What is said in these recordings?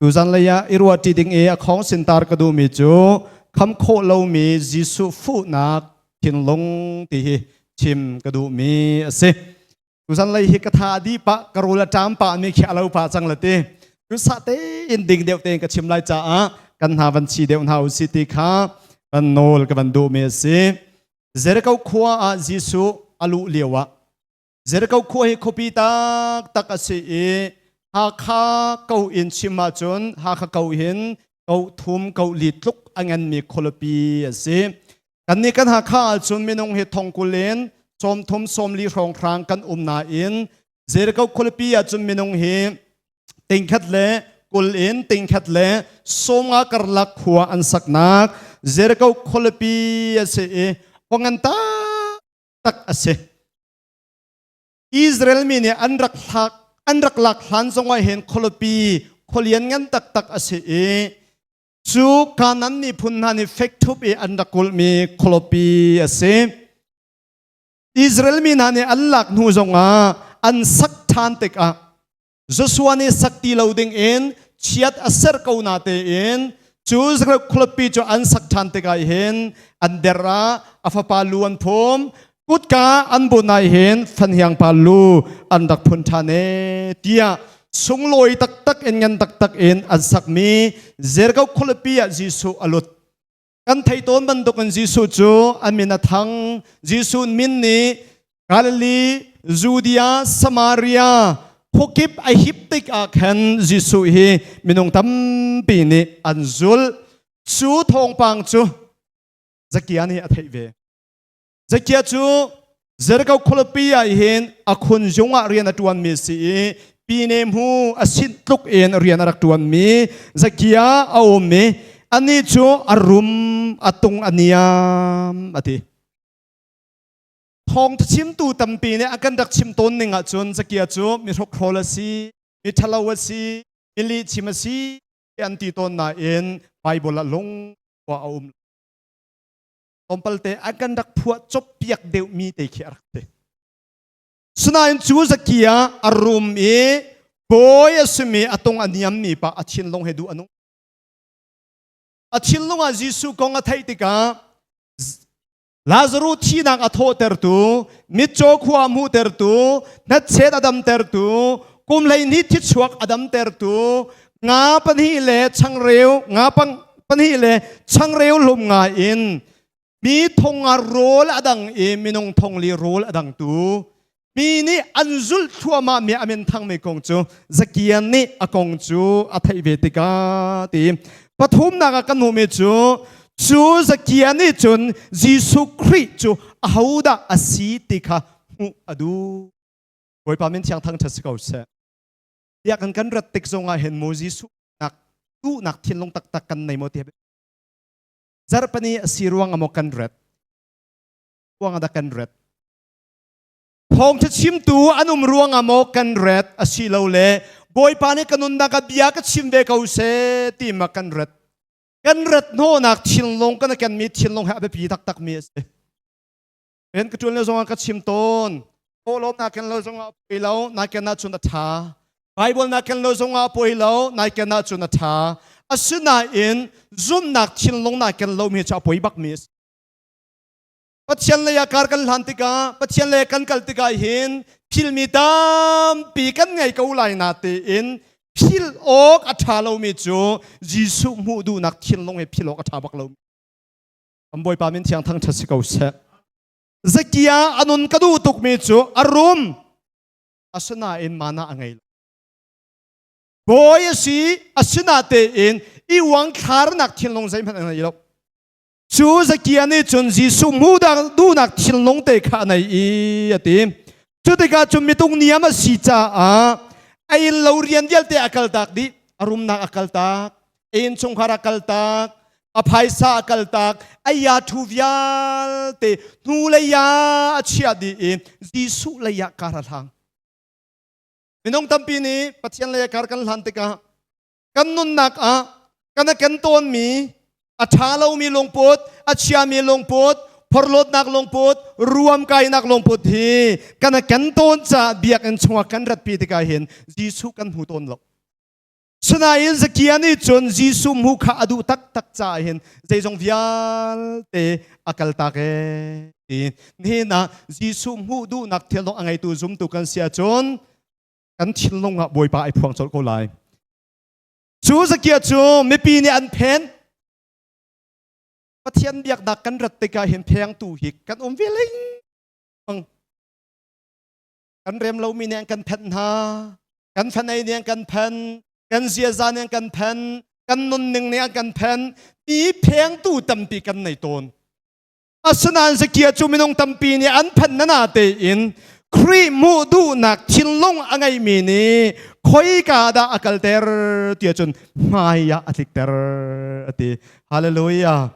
Tuzan lei ah i ruah ṭi ding i a khong sintar ka duhmi cu kham khawh lomi Jesuh fuhnak thinlung ti hi chim ka duhmi a si. Tuzan lei hi ka tha a dih pah ka rul a ṭam pah mi khi a lo pah cang la ti cu sah tein ding deuh tein ka chim lai caah kan hna van chi deuh hna u si ti kha kan nawl ka van duhmi a si. Jericho khua ah Jesuh a luh lio ah Zerko khua hi khuapi taktak a si i Hakha ko in chim ahcun Hakha ko hin ko thum ko li tluk a nganmi khualipi a si. Kannih kan Hakha ahcun minung hi thongkul in sawmthum sawmli hrawnghrang kan um nain Zerko khualipi ahcun minung hi tingkhat le kul in tingkhat le sawmnga karlak khua an saknak Zerko khualipi a si i pangan ta tak a si Israel mi nih an rak hlak an rak lak hlan zongah hin khualipi khualian ngan taktak a si i cu kanan miphun hna nih fek thup i an rak kulhmi khualipi a si Israel mi hna nih an lak hnu zongah an sak ṭhan tikah Joshua nih sak ti lo dingin chiat a serh ko na tein cu khuapi cu an sak ṭhan tikah hin an der ah a fapa lu an phum kutka an bunh nai hin fanhiang pa lu an rak phun ṭhan e tiah sunglawi taktak in ngan taktak in an sakmi Jeriko khuapi ah Jesuh a lut Kan thei tawn bantukin Jesuh cu an min a thang. Jesuh min nih Galilee, Judea, Samaria khuakip a hip tik ah khan Jesuh hi minung tampi nih an zulh. Cu thawngpang cu Zakia nih a theih ve. Zekia cu Jericho khualipi ah hin a khun zung ah rian a ṭuanmi si i pine hmu a sinh tluk in rian a rak ṭuanmi Zekia a um i anih cu a rum a tung a niam a ti. Thawngtha chimtu tampi nih a kan rak chim tawn ning ahcun Zekia cu mi hrokhrol a si, mi ṭhalo a si, mi lihchim a si an ti tawn nain Bible ah lung khua a um lo. Tlawmpalte an kan rak phuah coppiak deuhmi te khi a rak ti. Sinain cu zaki ah a rum i bawi a simi a tung a niammi pa a thinlung he duh a nung. A thinlung ah Jesuh kong a theih tikah Lazaru thihnak a thawhtertu, mitcaw khua a hmuhtertu, hnatchet a damtertu, kum hleihnih thichuak a damtertu, nga pahnih le changreu nga pang pahnih le changreu hlum nga in mi thong nga rawl a dang i minung thong li rawl a dang tu mi nih an zulh thluahmah mi amin thang mi kong cu zakian nih a kong cu a theih ve tika ti pathumnak ah kan hmu mi cu cu zakian nih cun Jesuh Khrih cu ahodah a si ti kha hmuh a duh Bawipa min thiang thang ṭhat si ko seh biakinn kan rat tik zongah hin Moses duhnak thinlung taktak kan nei maw ti zarhpani a si ruang amaw kan rat kuang ada kan rat thawngtha chimtu an um ruang amaw kan rat asi lo le bawipa nih kanunnak a bia ka chim ve ko se ti ma kan rat kan rat no nak thinlung kan ken mi thinlung ha biapi tak tak mi asi Pen ka ṭuan le zongah ka chim tawn. Aw lo na ken lo zongah poi lo, nai ken na cun a ṭha. Bible na ken lo zongah poi lo, nai ken na cun a ṭha. Asinain zumnak thinlung nai ken lomi cu a poi bakmi a si. Pathian lei ah kar kan hlan tikah, Pathian lei kan kal tikah hin thilmi tampi kan ngei ko lai na tiin phil awk a ṭha lomi cu Jesuh hmuh duhnak thinlung he phil awk a ṭha bak lomi. kan bawipa min thiang thang ṭhat si ko seh zakia anun ka duh tukmi cu a rum asinain mana a ngei lo bawi a si asinatein i wang thlarnak thinlung zeihmanh a ngei lo cu zakia nih cun Jesuh mudah duhnak thinlung te kha a nei i a ti cu tikah cun mitung niam a si caah a in lo rian vialte a kaltak dih a rumnak a kaltak in chungkhar a kaltak a phaisa a kaltak aya thu vialte hnu leia a chia dih in Jesuh leia kar a hlang minung tampi nih Pathian leia kar kan hlan tikah kan nunnak ah kan a ken tawnmi a ṭha lomi lungput a chiami lungput phorhlawtnak lungput ruam kainak lungput hi kan a ken tawn caah biakinn chungah kan ratpi tikah hin Jesuh kan hmu tawn lo Sinain zakia nih cun Jesuh hmu kha a duh taktak caah hin zeizong vialte a kaltak ee ti hnenah Jesuh hmuh duhnak thilnung a ngeitu zumtu kan si ahcun kan thinlung ah Bawipa ai phuang colh ko lai. Cu zakia cu mipi nih an phen Pathian biaknak kan rat tikah hin phengtu hi kan um ve ling kan rem lomi nih an kan phenh hna kan fanei nih an kan phen kan ziaza nih an kan phen kan nunning nih an kan phen ti phengtu tampi kan nei tawn asinain zakia cu minung tampi nih an phen nana tein Khrih hmuh duhnak thinlung a ngeimi nih khoika dah a kalter ti cun hmai ah a tlikter a ti hallelujah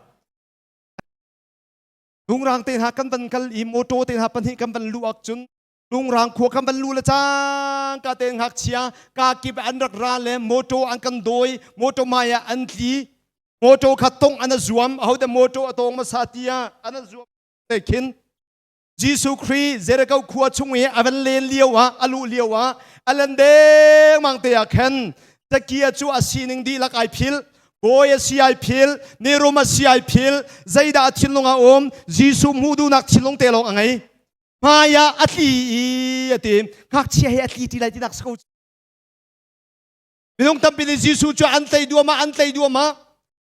Hnungrang te hna kan van kal i motor te hna pahnih kan van luh ak cun Hnungrang khua kan van luh le cang ka te ngak chia ka kip an rak ra le motor an kan doi motor mai ah an tli motor kha tong an a zuam hote motor a tong masa tia an a zuam te khin Jesuh Christ Jericho khua chung i a van len lio ah a lu lio ah a len deng mang te ah khan takia cu a sining di lak ai phil kawi a si ai phil nirum a si ai phil zeidah a thinlung a um jesuh hmuh duhnak thinlung te lawng a ngei hmai ah a tli i a ti ngakchia he a tli ti lai tinak so minung tampi nih jesuh cu an tlei duamah an tlei duamah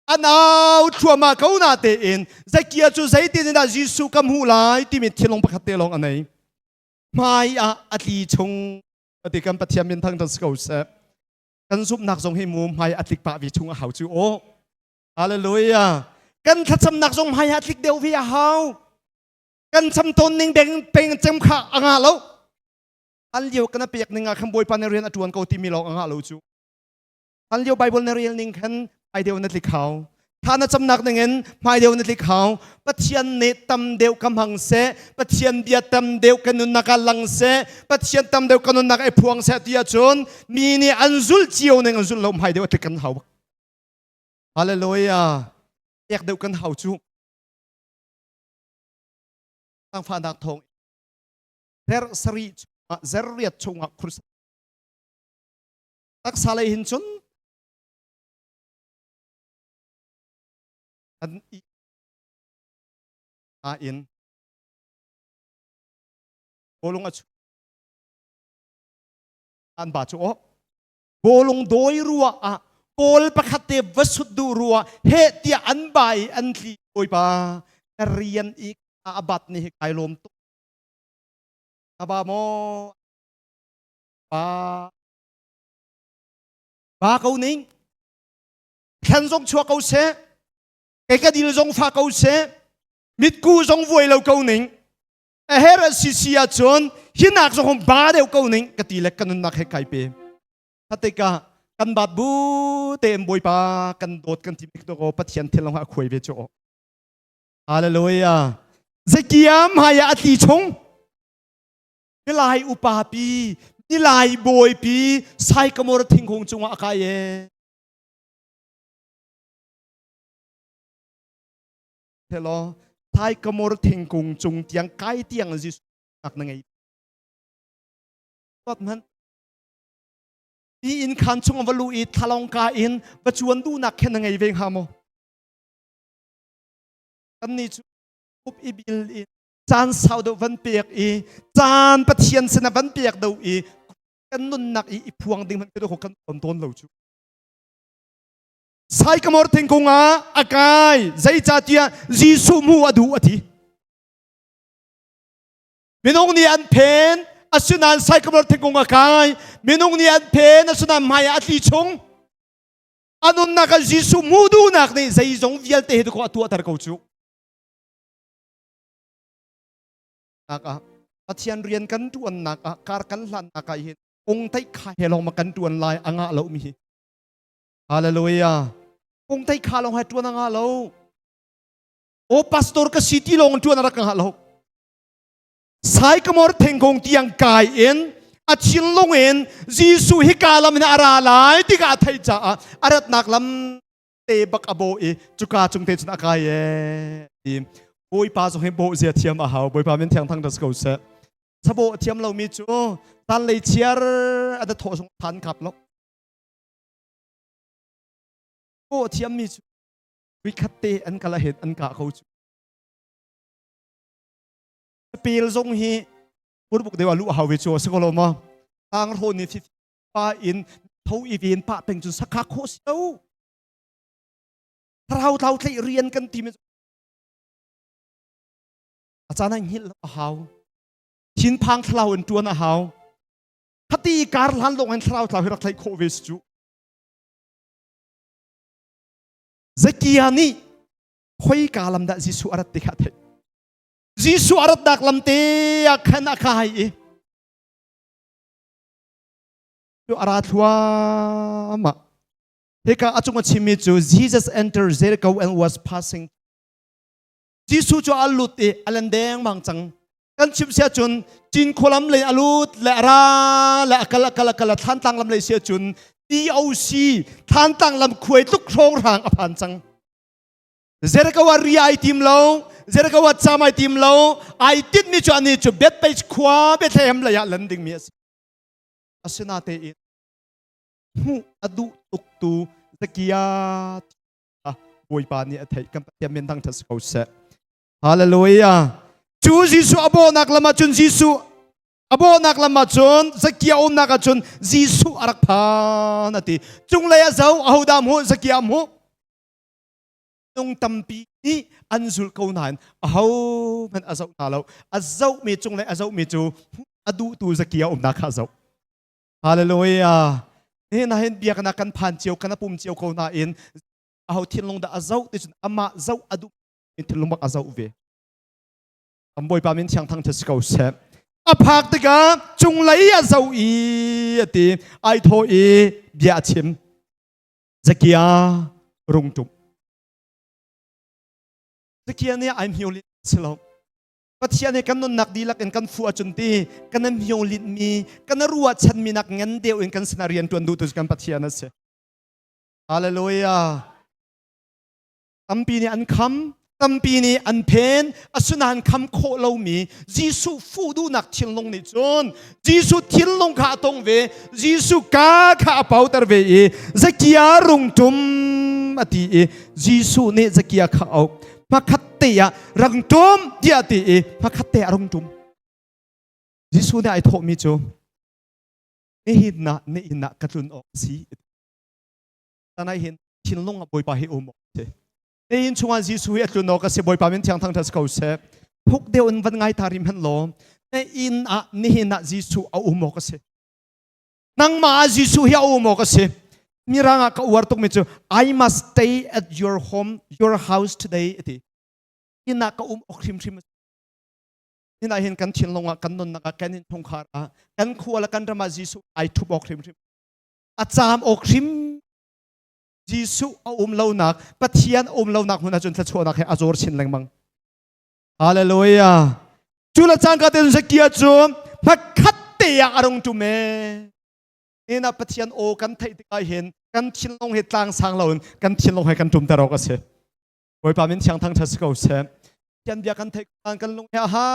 an au thluama ko na te in zekia cu zeitin in dah jesuh ka hmuh lai timi thinlung pakhat te lawng a nei hmai ah a tli chung ati kan pathian min thang tan si ko seh kan zumhnak zong hi mu hmai a tlik pah vi chung a hau cu o hallelujah kan thlacamnak zong hmai a tlik deuh vi a hau kan cham tawn ning beng peng cem kha a nga lo an lio kana pek ning ah khan bawipa ne rian a tuan ko ti mi lawng a nga lo cu an lio bible ne rel ning khan ai deu na tlik hau Tha na camnak ningin hmailio na tlik hau. Pathian nih tam deuh ka hmang seh. Pathian bia tam deuh ka nunnak ah lang seh. Pathian tam deuh ka nunnak ai phuang seh ti ahcun mi nih an zul cio ning an zul lo hmai deuh atlik kan hau. Hallelujah. Ek deuh kan hau cu. Tangfahnak thong. Ter sari chungah zerriat chungah khursa. Taksa lei hin cun an i a in bawlung a chu an ba chu aw bawlung dawi rua ah kawl pakhat te va sut du rua he tia an bai an tli bawipa na rian i a bat ni hi kai lom tu na ba mo ba ba ko ning thlen zong chua ko seh ekadil zong fa ko seh mitku zong vuai lo ko ning a her a si si ahcun hinak zong hon ba deuh ko ning ka ti le ka nunnak he kai pe thateka kan bat bu te en boipa kan dawt kan ti bik to ko pathian thil long ha khuai ve chu hallelujah zekiam haya ati chung Nilai upa pi, nilai bawi pi, saikamor thingkung cungah a kai e. Thelo, saikamor thingkung cung tiang kai tiang Jesuh nak na ngei. Tot man. Ti in khan chung va lu i thlalong ka in va chuan du nak khen na ngei ve hnga mo. Kan ni chu up i bil in caan sau deuh van pek i caan pathian sinah van pek do i kan nunnak i i phuang ding hmanh kan kan ton tawn lo cu sai kamor thingkung ah akai zeicatiah jesuh mu adu ati minung nih an phen asinan sai kamor thingkung akai minung nih an phen asinan hmai ah atli chung anunnak ah jesuh mu dunak nih zeizong vialte hi ko atuahter ko cu ah pathian rian kan tuannak ah kar kan hlannak ah hin ung tei kha he long ma kan tuan lai anga lo mi hi hallelujah ung tei kha long hai tuan anga lo o pastor ka city long tuan rak nga lo sai kamor thengkong tiang kai in a chin lung in jesu hi ka lam na ara lai ti ka thei cha a arat nak lam te bak a bawh i cuka cung te cun a kai e ti bawipa zong hi bawh zia thiam a hau bawipa min thiang thang da si ko seh sabawh thiam lomi cu tan lei chiar a da thawh zong phan kap lo bawh thiammi cu khat te an kala het an ka kho cu peel zong hi burbuk dewa lu a hawi chu a si ko lo ma tang ro ni thi pa in tho i ven pa peng cun sakha khawh si lo tharau thau thlei rian kan ti me a caan hai ngil a hau thin phang thlau in tuan a hau khati kar hlan lawng in thlarau thlau hi rak thlai khawh ve si cu zakia nih hoi ka lam da jesu arat te kha thei jesu arat dak lam te a khan a khai i cu a ra thluahmah hika a cung a chimmi cu Jesus entered Jericho and was passing Jesuh cu a lut i a len dengmang cang kan chim sia cun Cinkhua lam lei a lut le a ra le a kal a kal a kal a thantlang lam lei sia cun TOC thantlang lam khuai tluk hrawng rang a phan cang Jericho ah ri ai tim lo, Jericho ah cham ai tim lo, ai tit ni cu ani cu Bethpage khua Bethlehem lei ah lan dingmi a si. Asinatein hmuh a duh tuktu Zakia kha Bawipa nih a theih kan Pathian min thangṭhat si ko seh. Hallelujah. Cu Jesuh a bawhnak lam ah cun Jesuh a bawhnak lam ah cun Zakia umnak ah cun Jesuh a rak phan a ti. Cunglei a zo, ahodah mu, Zakia mu. Minung tampi nih an zul ko nain ahohmanh a zoh hna lo. A zohmi cung le a zohmi cu a duhtu zaki a umnak kha a zoh. Hallelujah. Hina hin biaknak kan phan cio, kan pum cio ko nain aho thinlung dah a zoh ti cun amah zoh a duh in thinlung bak a zoh ve. Kan Bawipa min thiang thang si ko seh. A phak tikah cung lei a zoh i a ti ai thaw i bia a chim. zakia rungtum zakia nih ai hmio lin si lo pathian he kan nunnak dihlak in kan fu acun ti kan an hmio lin mi kan ruah chan mi nak ngan deu in kan sina rian tuan du tu kan pathian asi hallelujah tampi nih an kham tampi nih an phen asinain kham khawh lomi Jesuh fuh duhnak thinlung nih cun Jesuh thinlung kha a tong ve Jesuh ka kha a pauter ve i Zakia rungtum a ti i Jesuh nih Zakia kha auh pakhat te ah rangtum tiah ti i pakhat te ah rungtum Jesuh nih ai thawhmi cu nihin ah na inn ah ka tlun awk a si tanai hin thinlung bawipa hi um te tein chungah Jesuh hi atlun awk ase bawipa min thiang thang tha ko se phuk deu in van ngai ta rim han law te in ah nihin ah Jesuh a um awk ase nangma ah Jesuh hi a um awk ase mirang ah ka uar tuk mi chu I must stay at your home your house today ati ina ka um ok hrim hrim ina hin kan thinlung ah kan nunnak ah kan in thungkhar ah kan khual kan rama Jesuh ai thup ok hrim hrim a caam awk hrim Jesuh a um lonak Pathian a um lonak hmun ahcun thluachuahnak he a zor chin lengmang Hallelujah cu le caan ka te kia cu hmakhat te ah a rung ṭum e ina Pathian aw kan theih tikah hin kan thinlong hi tlang sang loin kan thinlong he kan ṭum ter awk a si Bawipa min thiang thang ṭhat si ko seh kan bia kan theih kan kan lung he ha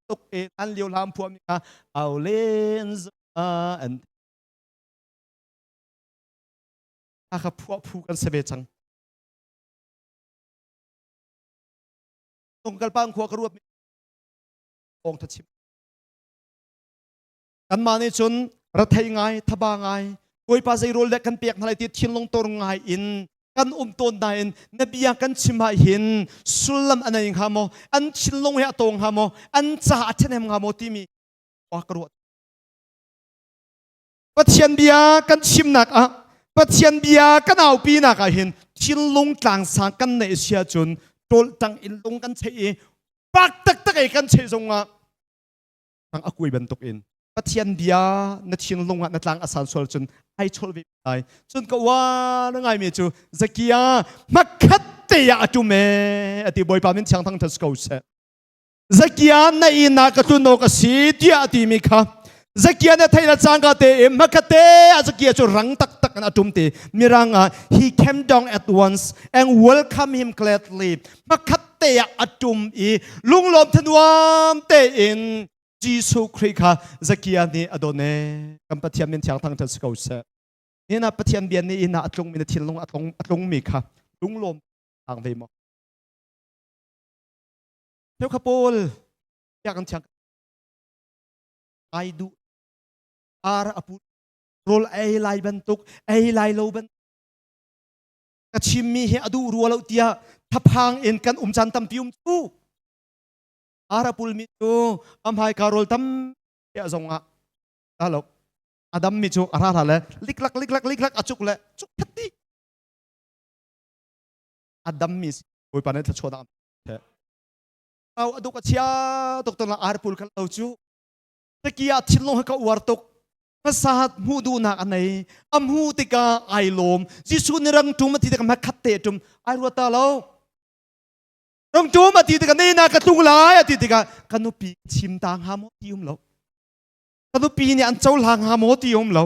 tuk e an liu lam phuam kha au len za and Hakha phu ah phu kan si ve cang. Tongalpang khua ka ruat Ong tha chim. Kanmah nih cun rathei ngai, thaba ngai, Bawipa zei rawl dek kan pek hna lai ti thinlung tor ngai in kan um tawn na in na bia kan chim ha hin sullam anai nga mo an thinlung he atong ha mo an ca athenem nga mo timi wa ka ruat Pathian bia kan chimnak ah Pathian bia kan aupinak ah hin thinlung tlangsang kan neih si ahcun tawltang in lung kan cheih i pak taktak ei kan cheih zongah ang a kuai bantuk in Pathian bia na thinlung ah na tlang asan sual cun ai chol ve lai cun ka wa na ngai me cu zakia hmakhat te ya atu me ati boipa min thiang thang thas ko se zakian na inak ka tlun awk a si tiah a timi kha zakia na theila cangka te i makate a zakia cu rang taktak in atum te miranga he came down at once and welcome him gladly makhat te ah atum i lunglawm thanuam te in Jesuh Christ kha zakia nih adone kan pathian min thiang thang than si ko seh ina pathian bian nih ina atlungmi na thil lung atlung atlungmi kha lunglawm ang ve mo Cheukha pawl tiah kan chiang ai duh ar a pu rol ei lai bantuk ei lai lo bantuk ka chimmi hi a duh rua lo tiah thaphang in kan um caan tampi um cu ara pulmi cu amhai ka rol tam zong ah alo adam mi cu ara ra le liklak liklak liklak acuk le cuk thati adam mi si bawipa ne thlachuah au aduk achia tuk ton la ar pul kal lo chu tekia thil long ka uar tuk pasat mu du nak anei amhu tika ai lom jisu ni rang tum ti tika makhat te tum ai ruata lo rang tum ati tika nei na ka tlung lai ati tika kanupi chim ta nga mo ti um lo kanupi ni an chau la nga mo ti um lo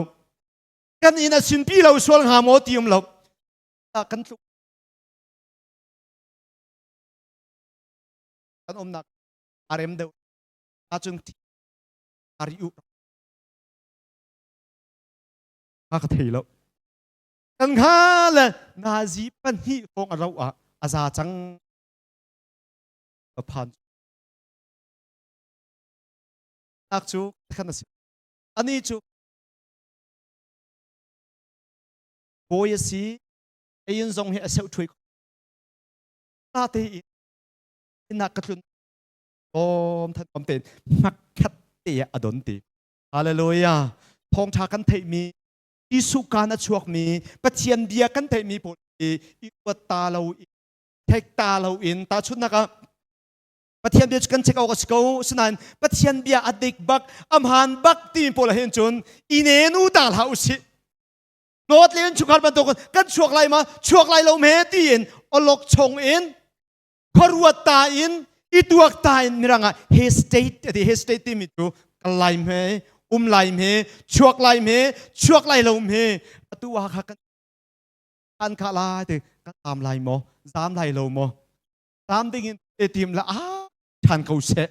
kan in asin pi lo sual nga mo ti um lo kan tlung kan umnak a rem deuh ahcun a ri u a ka thei lo kan kha le nazi pahnih hrawng a ro ah a za cang a phan nak cu khan a si ani cu bawi a si ayin zong hi a seu thuai ta tein innak ka tlun awm than awm tein hnakhat te a don te hallelujah thawngtha kan theihmi Jesuh kan a chuakmi Pathian bia kan theihmi pawl hi i kuat ta lo in thek ta lo in ta chunnak ah Pathian bia cu kan check awk a si ko sinain Pathian bia a dik bak a hmaan bak ti pawl hin cun i ne nu ta hlah u sih dawt le in chungkhat bantuk kan chuak lai ma chuak lai lo me tiin olok chung in khuaruat ta in i tuak ta in mirang ah he state ati he state timi cu kal lai me um lai me chuak lai me chuak lai lo me atu ah kha kan an kha la te kan am lai mo zam lai lo mo zam ding in e tim la a than ko se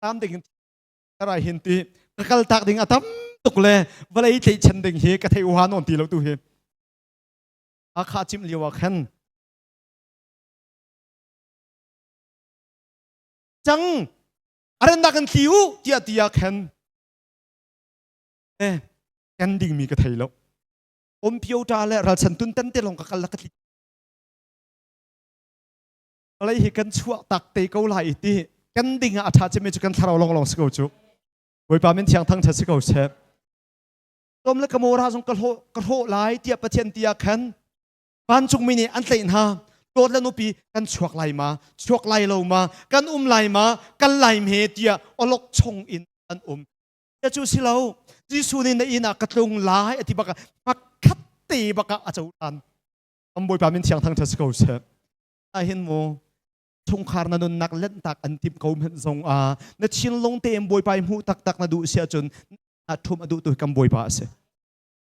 tam ding in Tara hin ti ka kal tak ding a tam tuk le vale i tleichan ding hi ka thei uha non ti lo tu hi a kha chim liu a khan chang arandak an tliu tia tia khen eh kan ding mi ka thei lo om pio ta le ral san tun tan te long ka kal la ka tli vawlei hi kan chuah tak te ko lai i ti kan ding ah a ṭha cemi cu kan thlarau lawnglawng si ko cu bawipa min thiang thang ṭha si ko seh tom le ka mora zong ka hlawh ka hlawh lai tiah pathian ti ah khan vancungmi nih an tleih hna dawt le nupi kan chuak lai ma chuak lai lo ma kan um lai ma kan lai me tiah olok chung in an um ya cu si lo Jesuh nih na inn ah ka tlung lai ati baka pakhat te baka a co tan am bawipa min thiang thang ṭha si ko seh ahhin mu chungkhar na nunnak lentak an tim ko hmenh zong ah na chin lung tein bawipa i hmuh taktak na duh si ahcun na ṭhum a duh tu kan bawipa a si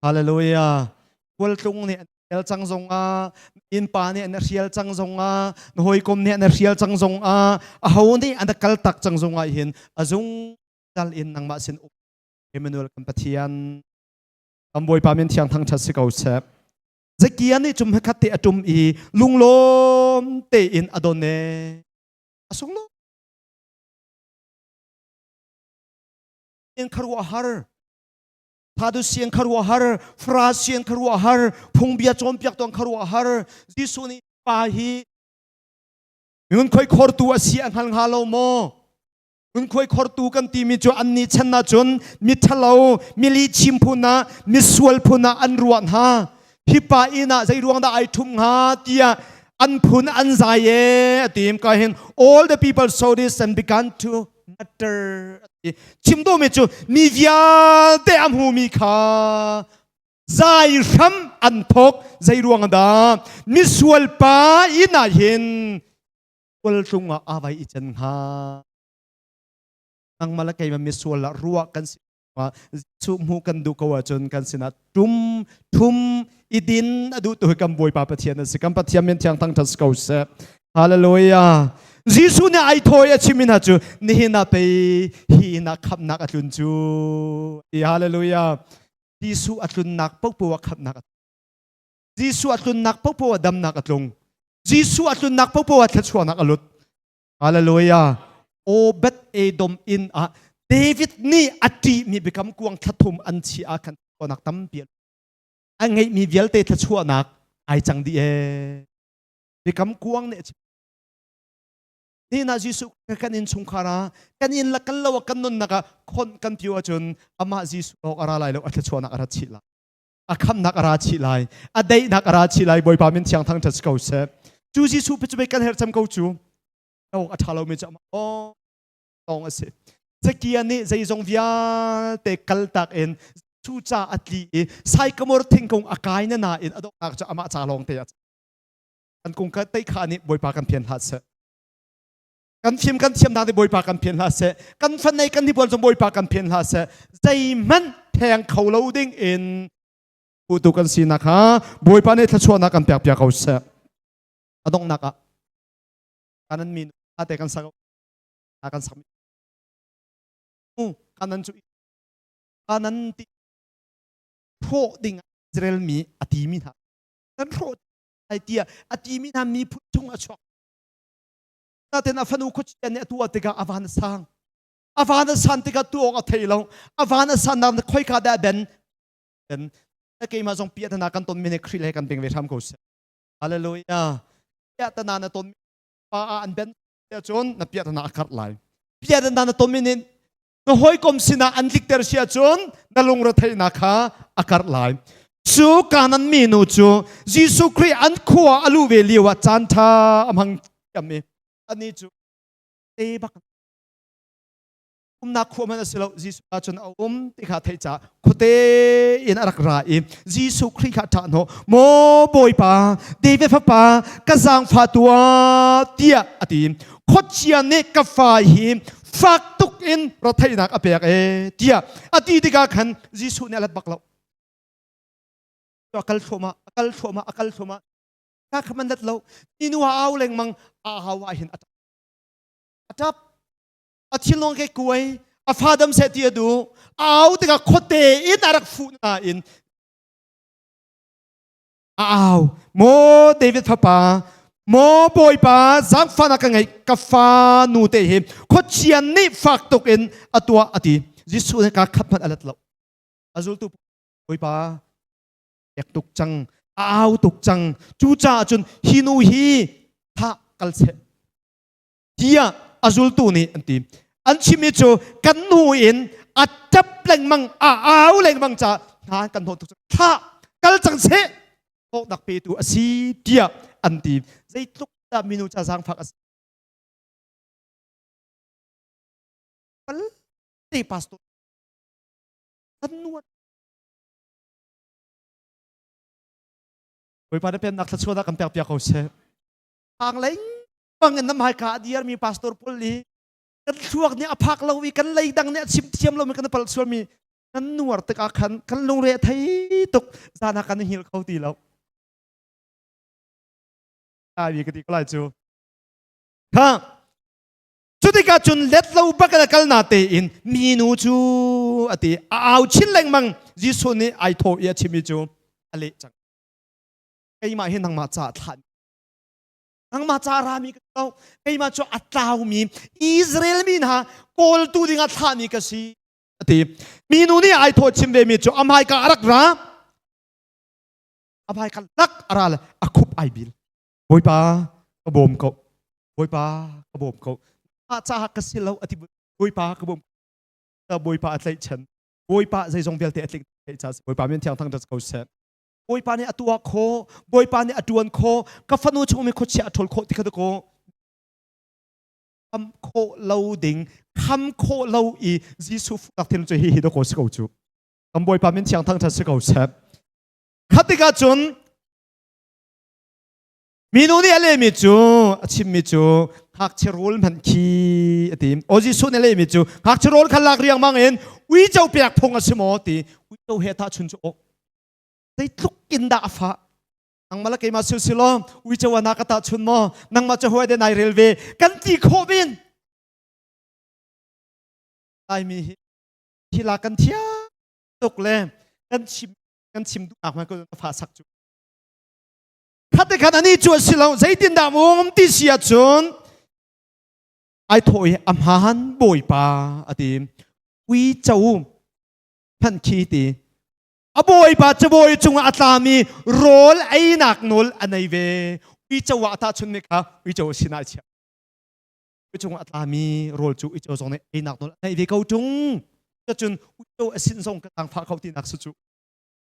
hallelujah kawltlung nih an hrial cang zong ah innpa nih an hrial cang zong ah na hawikom nih an hrial cang zong ah aho nih an kal tak cang zong ah hin a zung dal in nangmah sin um Emmanuel kan pathian am bawipa min thiang thangṭhat si ko sek Zekia nih cum hekhat te a tum i lunglawm tein a don e a sung lo in kharuah har thadu siang kharuah har fra siang kharuah har phungbia cawmpiak tong kharuah har Jesuh nih pa hi ngun khoi khortu a si a hngal nga lo maw Ngunkhuai khortu kan timi cu an ni chan cun miṭhalo mili chim phun ah misual phun ah an ruah hna hipa inn ah zei ruang dah ai ṭhum hnga tiah an phun an zai e a tim ka hin all the people saw this and began to mutter chimdumi cu mi vialte a hmumi kha zai hram an thok zei ruang dah misual pa inn ah hin kul tlung ah a vai i chen hnga nangmah le keimah misual ah ruah kan si Jesuh hmu kan duh ko ahcun kan sinah tum thum i din a duh tu kan bawipa pathian a si kan pathian min thiang thang ṭhat ko seh hallelujah Jesuh nih ai thawi a chimmi hna cu nihin ah pei hi na khamnak a tlun cu i hallelujah Jesuh a tlunnak popo a khamnak a Jesuh a tlunnak popo ah damnak a tlung. Jesuh a tlunnak popo ah thluachuahnak a lut. Hallelujah. O Bet Edom inn ah David nih a ṭihmi biakam kuang thla an chi ah khan thluachuahnak tampi a ngeihmi vialte thluachuahnak ai cang dih ee. Biakam kuang nih a chim. Nihin Jesuh kan in chungkhar ah kan in la kal lo kan nunnak ah khon kan pio ahcun amah Jesuh lawk a ra lai lo a thluachuahnak a rat chih lai. a khamnak a ra chih lai a daihnak a ra chih lai bawipa min thiang thang ṭhat ko seh cu jesuh pe cu bei kan her cam ko cu o a ṭha lomi cu o tawng a si zakia nih zeizong vialte kal tak in cu ca a tli i saikamor thingkung a kai na na in a donghnak cu amah ca lawng te a an kung ka tei kha nih bawipa kan phian hlat seh kan fim kan thiam hna ti bawipa kan phen hlah seh kan fan nei kan hnipuan zong bawipa kan phen hlah seh zeihmanh theng kho lo ding in putu kan sinak ha bawipa nih thluachuahnak kan pek piak ko seh a donghnak ah kanan min ate kan sagau kan submit kanan cu kanan ti hrawh ding Israel mi a ti mi hna kan hrawh ai tia a ti mi hna mi phun chung a chuak Naten a fanu khuacien nih atu a tikah a van a sang. A van a san tikah tu awng a thei lo. A van a san nak na khoika dah ben. En na keimah zong pia tana kan ton mene khri le kan beng ve hram ko se. Hallelujah. Pia tana na ton pa a an ben te cun na pia tana a karh lai. Pia tana na ton mene na hawikom sinah an tlikter si ahcun na lungretheihnak kha a karh lai cu kanan minu cu Jesuh Khrih an khua a luh ve lio ah caan ṭha a hmang thiam i anih cu te bak umnak khua hmanh a si lo Jesuh ah cun a um ti kha theih caah khuate in a rak ra i Jesuh Khrih kha ṭah hnawh maw Bawipa David fapa ka zaangfatu ah tiah a ti khuachia nih ka fa hi fak tuk in rotheihnak a pek e tiah a ti tikah khan Jesuh nih a let bak lo a kal thluahmah a kal thluahmah a kal thluahmah ta kha man dat lo ni nu a au lengmang a hau ah hin a tap a tap a thinlong ke kuai a fa dam se ti a du a au tikah khuate in a rak fuh na in a au maw david fapa maw bawipa zaangfahnak ka ngei ka fa nu te hi khuachia nih fak tuk in a tuah a ti jesuh nih kaa khat hmanh a let lo a zultu bawipa ek tuk cang a au tuk cang cu caah cun hi nu hi thah kal seh tiah a zultu nih an ti an chimmi cu kan hnu in a tap lengmang a au lengmang ca hna kan hnawh tuk thla kal cang seh thawk dak petu a si tiah an ti zeitluk dah minu ca zangfak a si palte pastor tannuat Bawipa na pennak thluachuah kan pek piak ko seh. Hang leng bangin nam haika a diarmi pastor paul hi kan thluak nih a phak lo i kan leidang nih a chim thiam lo mi kan pal suami kan nuar tik ah khan kan lungre thei tuk zan ha kan hil kho ti lo ai mi ka ti ko lai cu kha cu tikah cun let lo bak la kal na te in mi nu cu a ti a au chin lengmang Jesuh nih ai tho i a chimi cu a leh cang keimah hi nangmah ca thlan nangmah ca rami ka si keimah cu a tlaumi Israel mi hna kawltu dingah thlahmi ka si a ti minu nih ai thaw chim ve mi cu a hmaika a rak ra a hmaika lak a ra le a khup ai bil bawipa ka bawm ko bawipa ka bawm ko a ca ka si lo a ti bawipa ka bawm ta bawipa a tlaih chen bawipa zeizong vialte a tling theih cha si bawipa min thiang thang dat ko seh Bawipa nih a tuah khawh, Bawipa nih a ṭuan khawh, ka fanu chungum i khuachia a ṭhawl khawh ti kha dakaw kham khawh lo ding, kham khawh lo i Jesuh fuhnak thin cu hihi dakaw si ko cu. Kan Bawipa min thiang thangṭhat si ko seh. Kha tikah cun Minu nih a lehmi cu a chimmi cu ngakchia rawl hmanh khi a ti. O Jesuh nih a lehmi cu ngakchia rawl kha lak riangmang in uico pek phung a si maw ti uico he tahchun cu awk zeitluk in dah a fah nangmah le keimah silsilaw uico anak ka tahchun maw nangmah cu hawi de nai rel ve kan ti khawh men laimi hi thila kan thiam tuk le kan chim kan chim duhnak man ko fa sak cu Thate khan ani cu a si lo zeitindah um ti si ahcun ai thaw i a hmaan bawipa a ti uico phan khi ti a bawipa cabawi cungah a tlami rawl einak nawl a nei ve uico ah ta chun mi kha uico sinai chia cungah a tlami rawl cu uico zong nih einak nawl a nei ve ko tung cacun uico a sin zong ka tang pha kho tinak su cu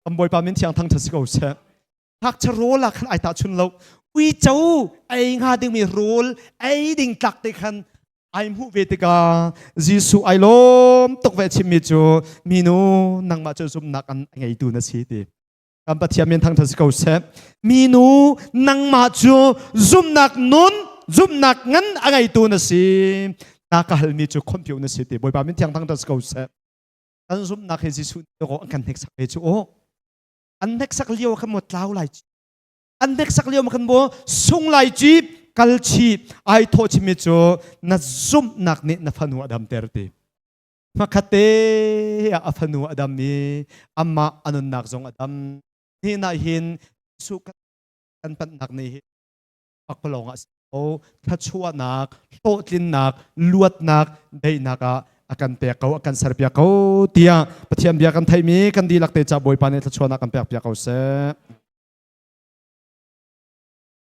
kan bawipa min thiang thang ṭha si ko seh ngakchia rawl ah khan ai tahchun lo uico ei hnga dingmi rawl ei ding tlak te khan ai hmuh ve tikah Jesuh ai lawm tuk ve chimmi cu minu nangmah cu zumnak an ngeitu na si ti kan Pathian min thang ṭha si ko seh minu nangmah cu zumnak nun zumnak ngan a ngeitu na si na ka halmi cu khonpio na si ti bawipa min thiang thang ṭha si ko seh Kan zumhnak hi Jesuh awk an kan hneksak ve cu aw. An hneksak lio kan mo tlau lai ci. An hneksak lio kan mo sung lai ci kal chi ai thawh chimi cu na zumhnak nih na fanu a damter ti. Hmakhatte ah a fanu a dam i amah a nunnak zong a dam. Ni na hin Jesuh kan pannak ni hi a ka lawng ah o thluachuahnak hlawhtlinnak luatnak daihnak ah a kan pek ko a kan serpiak ko tiah Pathian bia kan theimi kan dihlak te ca Bawipa nih thluachuahnak kan pek piak ko seh